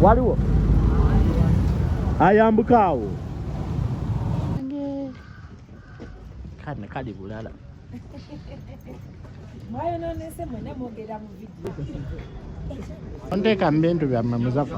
waliwo ayambuka awo kane kali bulala onteeka mubintu byamme muzafa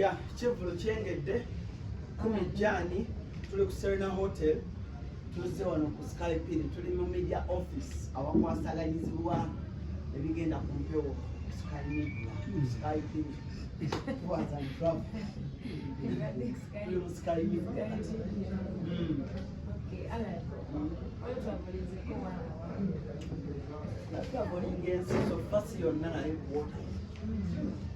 ya kivulu kyengedde kumijjaani tuli ku serena hotel tuzze wano ku skypin tuli mu media office awakwasaganyizibwa ebigenda ku mpewo sky media hmm. skypin That's not what he gets. So, first, you're not a reporter.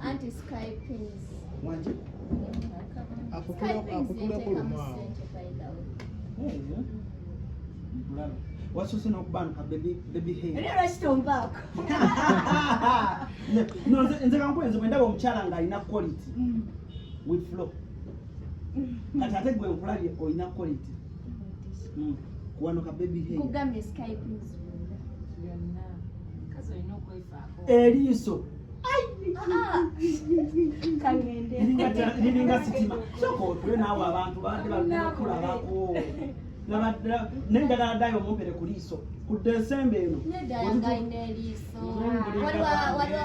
anti skypins wanje akutulako lumwawo wasose nokubanuka nze kankwenze bwendaba omukyala nga alina quality mm. with flow kati ate gwe nkulabye olina quality mm. kuwanuka baby hey Eriiso. Liringa sitima. Soko otule naawe abantu baadde bakulabako. Naye njagala ddayo omumpere ku liiso. Ku Desemba eno. Waliwo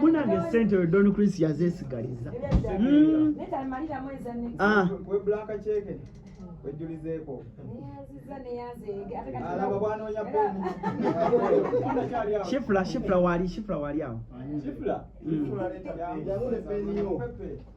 munange sente oyo don chris yazesigaliza hmm. ah. shifula shifula wali shifula wali awo hmm.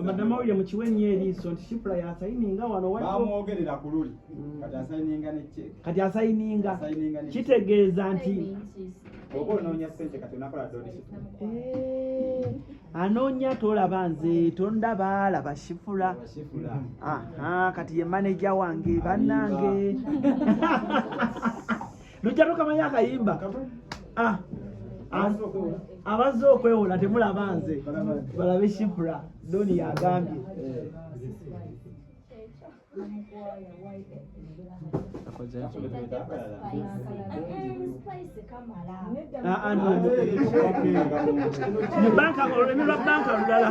amadamawulire mukiwa ennyo eriiso nti shipula yasayininga wano bamwogerera ku luli mm. kati asayininga ne cek kati asayininga kitegeeza nti oba onoonya sente kati onakola donation eh, anoonya tolaba nze tondaba laba shifula kati ye maneja wange bannange lujja tokamanyi akayimba ah, ah, abazze okwewola temulaba nze balabe shipra doni yagambye banka olulimi lwa banka lulala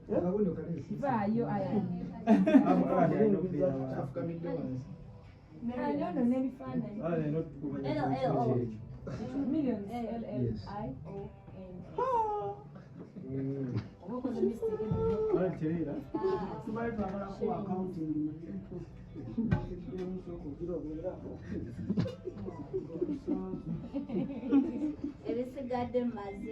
vaayo ayanono ebisigadde maze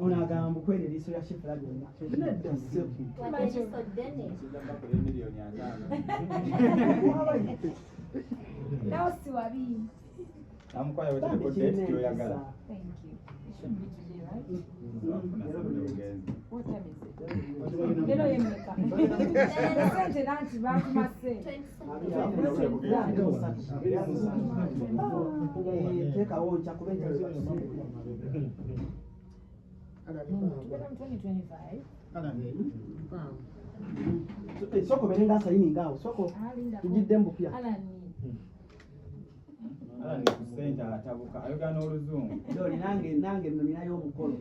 ono agamba mukwera eriiso lya shifula lyonna nedda sente Eh, soko berenga saini ngao soko tujidde mbupya kusente atabuka ayogana oluzungu doli nange nange nno ninayo omukolo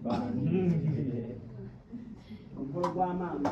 omukolo gwa maama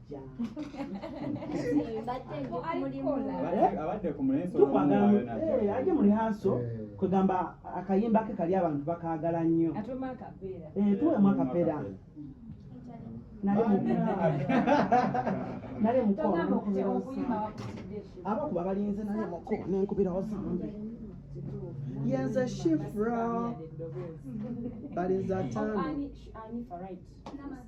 aje mu lihanso kwegamba akayimba ke kali abantu bakagala nnyo tuwemu akapeera nale mukoabakuba balinze nale muko nenkubirawo zambi yenze shifra balinze atano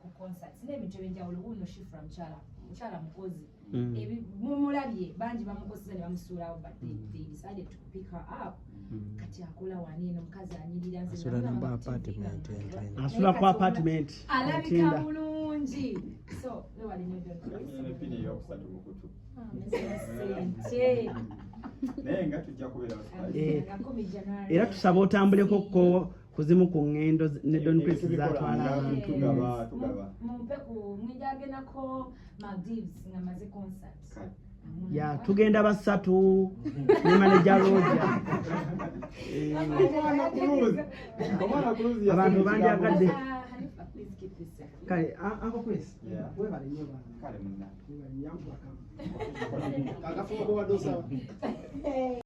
ku concerts n'ebintu ebyenjawulo wuuno shifra mukyala mukyala mukozi mm. mumulabye bangi bamukoseza ne bamusuulawo but they mm. decided to pick her up mm. kati akola wani eno omukazi anyirira asula ku apartment alabika bulungi so wewalina era tusaba otambuleko ko ku zimu ku ŋŋendo ne don prince zatwala abantu ya tugenda basatu ne maneja roja abantu banjagadde kale anko chris webale nyo bana kale munna